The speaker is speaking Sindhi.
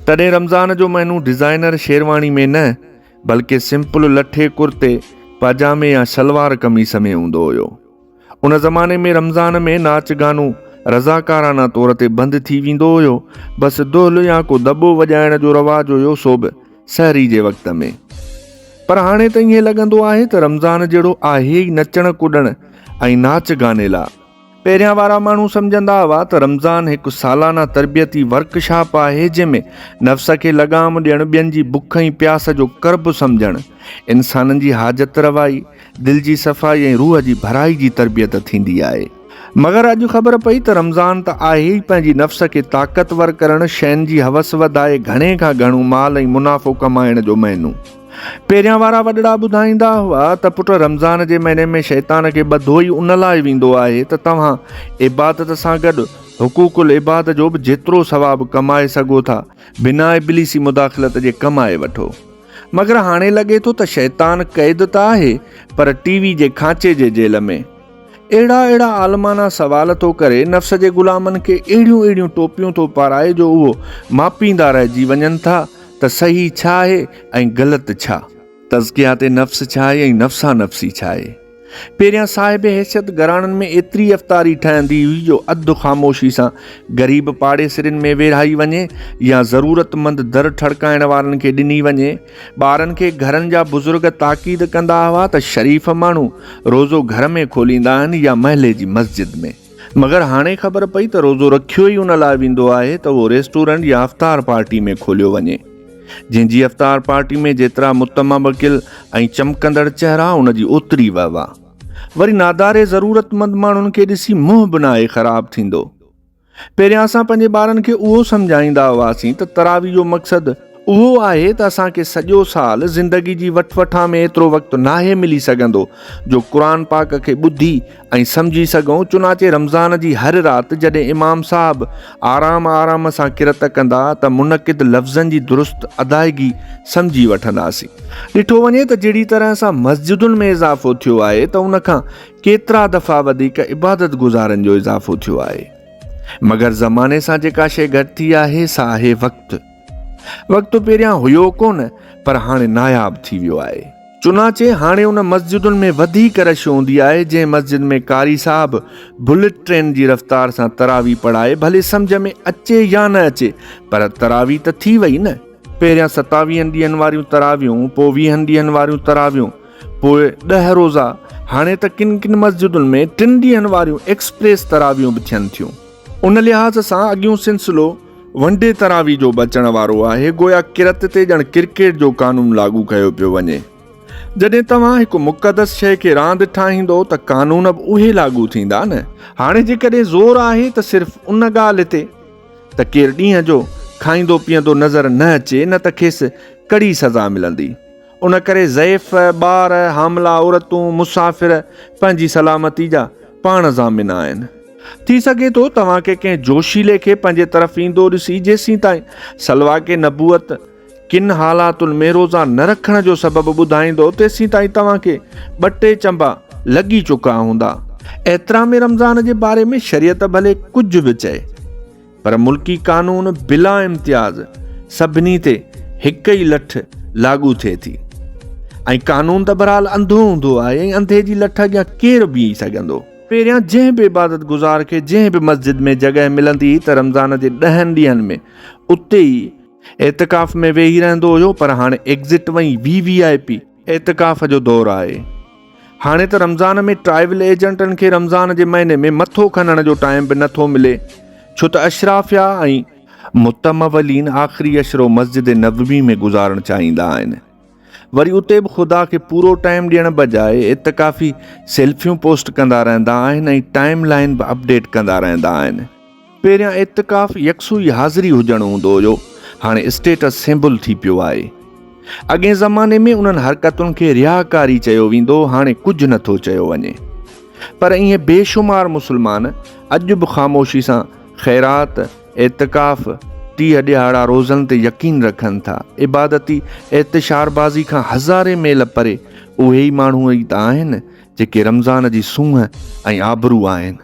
تڏهن رمضان جو مهنو ڊزائنر شيرواڻي ۾ نه بلڪه سمپل لٺي ڪرتي پاجامي يا شلوار قميص ۾ هوندو هيو. ان زماني ۾ رمضان ۾ ناچ گانو رضاڪارانه طور تي بند ٿي ويندو هيو بس دهل يا ڪو دٻو وڄائڻ جو رواج هيو سو به سحري جي وقت ۾ پر هاڻي ته ائين لڳندو آهي ته رمضان جهڙو آهي ئي نچڻ ڪڏڻ ۽ ناچ گاني لا. پهريان وارا ماڻهو سمجهندا هئا ته رمضان هڪ سالانه تربيتي ورڪ شاپ آهي جنهن ۾ نفس کي لغام ڏيڻ، ٻين جي بک ۽ پياس جو قرب سمجهڻ، انسانن جي حاجت روائي، دل جي صفائي ۽ روح جي ڀرائي جي تربيت ٿيندي آهي. مگر اڄ خبر پئي ته رمضان ته آهي ئي پنهنجي نفس کي طاقتور ڪرڻ، شين جي حوس وڌائي گهڻي کان گهڻو مال ۽ منافعو ڪمائڻ جو مهينو. پهريان وارا وڏڙا ٻڌائيندا هئا ته پٽ رمضان جي مهيني ۾ شيطان کي ٻڌو ئي ان لاء ويندو آهي ته توهان عبادت سان گڏ حقوق العباد جو به جيترو ثواب ڪمائي سگهو ٿا بنا ابليسي مداخلت جي ڪمائي وٺو مگر هاڻي لڳي ٿو ته شيطان قيد ته آهي پر ٽي وي جي کانچي جي جيل ۾. اهڙا اهڙا عالمانه سوال ٿو ڪري، نفس جي غلامن کي اهڙيون اهڙيون ٽوپيون ٿو پارائي جو اهو ماپيندا رهجي وڃن ٿا ته صحيح ڇا آهي ۽ غلط ڇا؟ تزڪيات نفس ڇا آهي ۽ نفسانفسي ڇا آهي؟ پهريان صاحب حيثيت گهراڻن ۾ ايتري افطاري ٺهندي هئي جو اڌ خاموشي سان غريب پاڙيسرين ۾ ويڙهائي وڃي يا ضرورتمند در ٺڙڪائڻ وارن کي ڏني وڃي، ٻارن کي گهرن جا بزرگ تاڪيد ڪندا هئا ته شريف ماڻهو روزو گهر ۾ کوليندا آهن يا محلي جي مسجد ۾، مگر هاڻي خبر پئي ته روزو رکيو ئي ان لاء ويندو آهي ته اهو ريسٽورنٽ يا افطار پارٽي ۾ کوليو وڃي، جنهن جي افطار پارٽي ۾ جيترا متمبڪل ۽ چمڪندڙ چهرا ان جي اوتري وهوا. وري ناداري ضرورتمند ماڻهن کي ڏسي منهن به ناهي خراب ٿيندو. پهريان اسان پنهنجي ٻارن کي اهو سمجهائيندا هئاسين ته تراويح جو مقصد اهو آهي ته اسان کي سڄو سال زندگي جي وٺ وٺان ۾ ايترو وقت ناهي ملي سگهندو جو قرآن پاڪ کي ٻڌي ۽ سمجهي سگهون چنانچه رمضان جي هر رات جڏهن امام صاحب آرام آرام سان قرت ڪندا ته منعقد لفظن جي درست ادائگي سمجهي وٺنداسين ڏٺو وڃي ته جهڙي طرح سان مسجدن ۾ اضافو ٿيو آهي ته ان کان ڪيترا دفعا وڌيڪ عبادت گذارن جو اضافو ٿيو آهي. مگر زماني سان جيڪا شيء گهٽ ٿي آهي سا آهي وقت. وقت پهريان هيو ڪونه پر هاڻي ناياب ٿي ويو آهي. چنانچه هاڻي ان مسجدن ۾ وڌيڪ رش هوندي آهي جنهن مسجد ۾ قاري صاحب بلٽ ٽرين جي رفتار سان تراويح پڙهائي ڀلي سمجهه ۾ اچي يا نه اچي پر تراويح ته ٿي وئي نه. پهريان ستاويهن ڏينهن واريون تراويحون پوء ويهن ڏينهن واريون تراويحون. پوء ڏهه روزا، هاڻي ته ڪن ڪن مسجدن ۾ ٽن ڏينهن واريون ايڪسپريس تراويحون به ٿين ٿيون. ان لحاظ سان اڳيون سلسلو ون ڊي تراويح جو به اچڻ وارو آهي، گويا ڪرت تي ڄڻ ڪرڪيٽ جو قانون لاڳو ڪيو پيو وڃي. جڏهن توهان هڪ مقدس شيء کي راند ٺاهيندو ته قانون به اهي لاڳو ٿيندا نه. هاڻي جيڪڏهن زور آهي ته صرف ان ڳالهه تي ته ڪير ڏينهن جو کائيندو پيئندو نظر نه اچي نه ته کيس ڪڙي سزا ملندي. ان ڪري ضعيف، ٻار، حاملا عورتون، مسافر پنهنجي سلامتي جا پاڻ ضامن آهن. ٿي سگهي ٿو توهان کي ڪنهن جوشيلي کي پنهنجي طرف ايندو ڏسي جيسين تائين سلواڪ نبوت ڪن حالاتن ۾ روزا نه رکڻ جو سبب ٻڌائيندو تيسين تائين توهان کي ٻه ٽي چنبا لڳي چڪا هوندا. احترام رمضان جي باري ۾ شريعت ڀلي ڪجهه به چئي. پر ملڪي قانون بلا امتياز سڀني تي هڪ ئي لٺ لاڳو ٿئي ٿي ۽ قانون ته برحال انڌو هوندو آهي ۽ انڌي جي لٺ اڳيان ڪير بيهي سگهندو؟ پهريان جنهن به عبادت گذار کي جنهن به مسجد ۾ جڳهه ملندي هئي ته رمضان جي ڏهن ڏينهن ۾ اتي ئي اعتڪاف ۾ ويهي رهندو هيو پر هاڻي ايگزٽ وئي وي وي آء پي اعتڪاف جو دور آهي هاڻي ته رمضان ۾ ٽرائيول ايجنٽن کي رمضان جي مهيني ۾ مٿو کنڻ جو ٽائيم به نٿو ملي ڇو ته اشرافيا ۽ متمولين آخري اشرو مسجد نبوي ۾ گذارڻ چاهيندا آهن وري اتي به خدا کي پورو ٽائيم ڏيڻ بجاء اعتڪافي سيلفيون پوسٽ ڪندا رهندا آهن ۽ ٽائيم لائين به اپڊيٽ ڪندا رهندا آهن پهريان اعتڪاف يڪسوئي حاضري هجڻ هوندو هيو، هاڻي اسٽيٽس سيمبل ٿي پيو آهي. اڳئين زماني ۾ انهن حرڪتن کي رياڪاري چيو ويندو هاڻي ڪجهه نه ٿو چيو وڃي. پر ايئن بي شمار مسلمان اڄ به خاموشي سان خيرات، اعتڪاف، ٽيهه ڏيهاڙا روزن تي يقين رکن ٿا. عبادتي اعتشاربازي کان هزارين ميل پري اهي ئي ماڻهو ئي ته آهن جيڪي رمضان جي سونهن ۽ آبرو آهن.